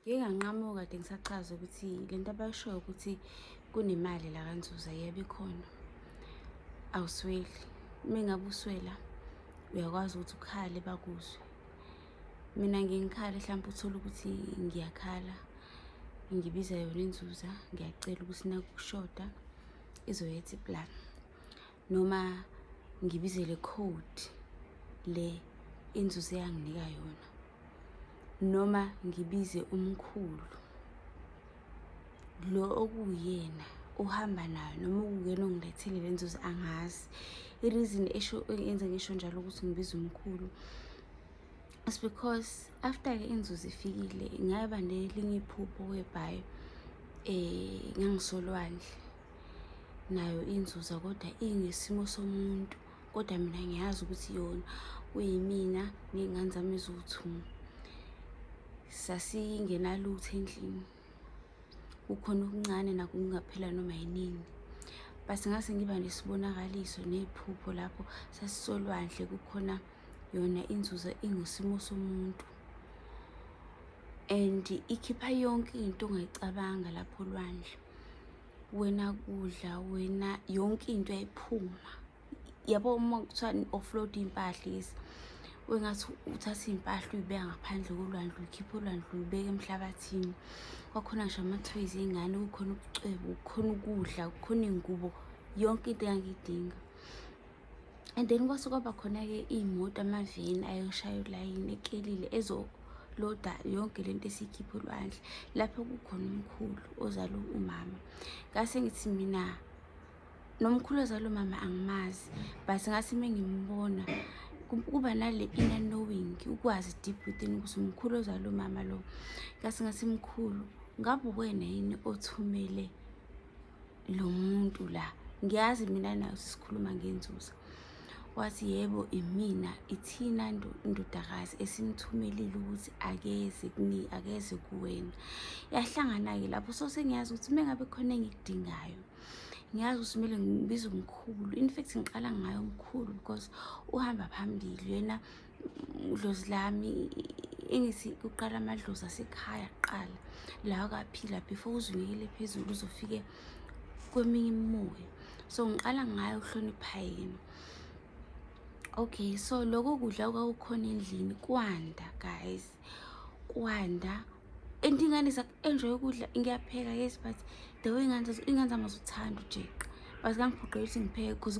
Ngike nganqamuka kade ngisachaza ukuthi le nto abayishoyo ukuthi kunemali la kanzuza yebo ikhona awusweli uma ngabe uswela uyakwazi ukuthi ukhale bakuzwe mina ngingikhale mhlawumpe uthole ukuthi ngiyakhala ngibiza yona inzuza ngiyacela ukuthi nakushoda izoyetha iplan noma ngibizele code le inzuzo eyanginika yona noma ngibize umkhulu lo okuwuyena uhamba nayo noma ukuyena ongilethile le nzuzo angazi i-reason esho engenza ngisho njalo ukuthi ngibiza umkhulu is because after-ke inzuzo ifikile ngaba nelinye iphupho webhayo um eh, ngangisolwandle nayo inzuza kodwa ingesimo somuntu kodwa mina ngiyazi ukuthi yona kuyimina ney'ngane zami eziwu-two sasingenalutho endlini kukhona okuncane nakho kungaphela noma yinini but ngase ngiba nesibonakaliso nephupho lapho sasisolwandle kukhona yona inzuzo ingusimo somuntu and ikhipha yonke into ongayicabanga lapho olwandle wena kudla wena yonke into yayiphuma yabo uma kuthiwa offload iy'mpahla lezi wengathi uthatha iy'mpahla uyibeka ngaphandle kolwandle uyikhiphe olwandle uyibeke emhlabathini kwakhona ngisho amathoyizi ey'ngane kukhona ubucwebo kukhona ukudla kukhona iy'ngubo yonke into engangiyidinga and then kwase kwaba khona-ke iy'moto amaveni ayoshaya ulayini ekelile ezoloda yonke le nto esiyikhipha olwandle lapho kukhona umkhulu ozala umama ngase ngithi mina nomkhulu ozala umama angimazi but ngase uma ngimbona kuba nale inner knowing ukwazi deep within ukuthi umkhulu ozala umama lo ngase ngase mkhulu ngabe uwena yini othumele lo muntu la ngiyazi mina nayo sisikhuluma ngenzuza wathi yebo imina ithina ndodakazi esimthumelile ukuthi akeze kuni akeze kuwena yahlangana-ke lapho so sengiyazi ukuthi uma ngabe khona engikudingayo ngiyazi ukuthi kumele ngibize umkhulu in fact ngiqala ngayo umkhulu because uhamba phambili yena Dlozi lami engithi kuqala amadlozi asekhaya kuqala la akaphila before uzinikele phezulu uzofike kweminye imimoya so ngiqala ngayo ukuhlonipha yena okay so lokho kudla kwakukhona endlini kwanda guys kwanda and ingane enjoy ukudla ngiyapheka yes but the way ingane ingane zami azuthanda ujeqa but kangiphoqeli ukuthi ngipheke because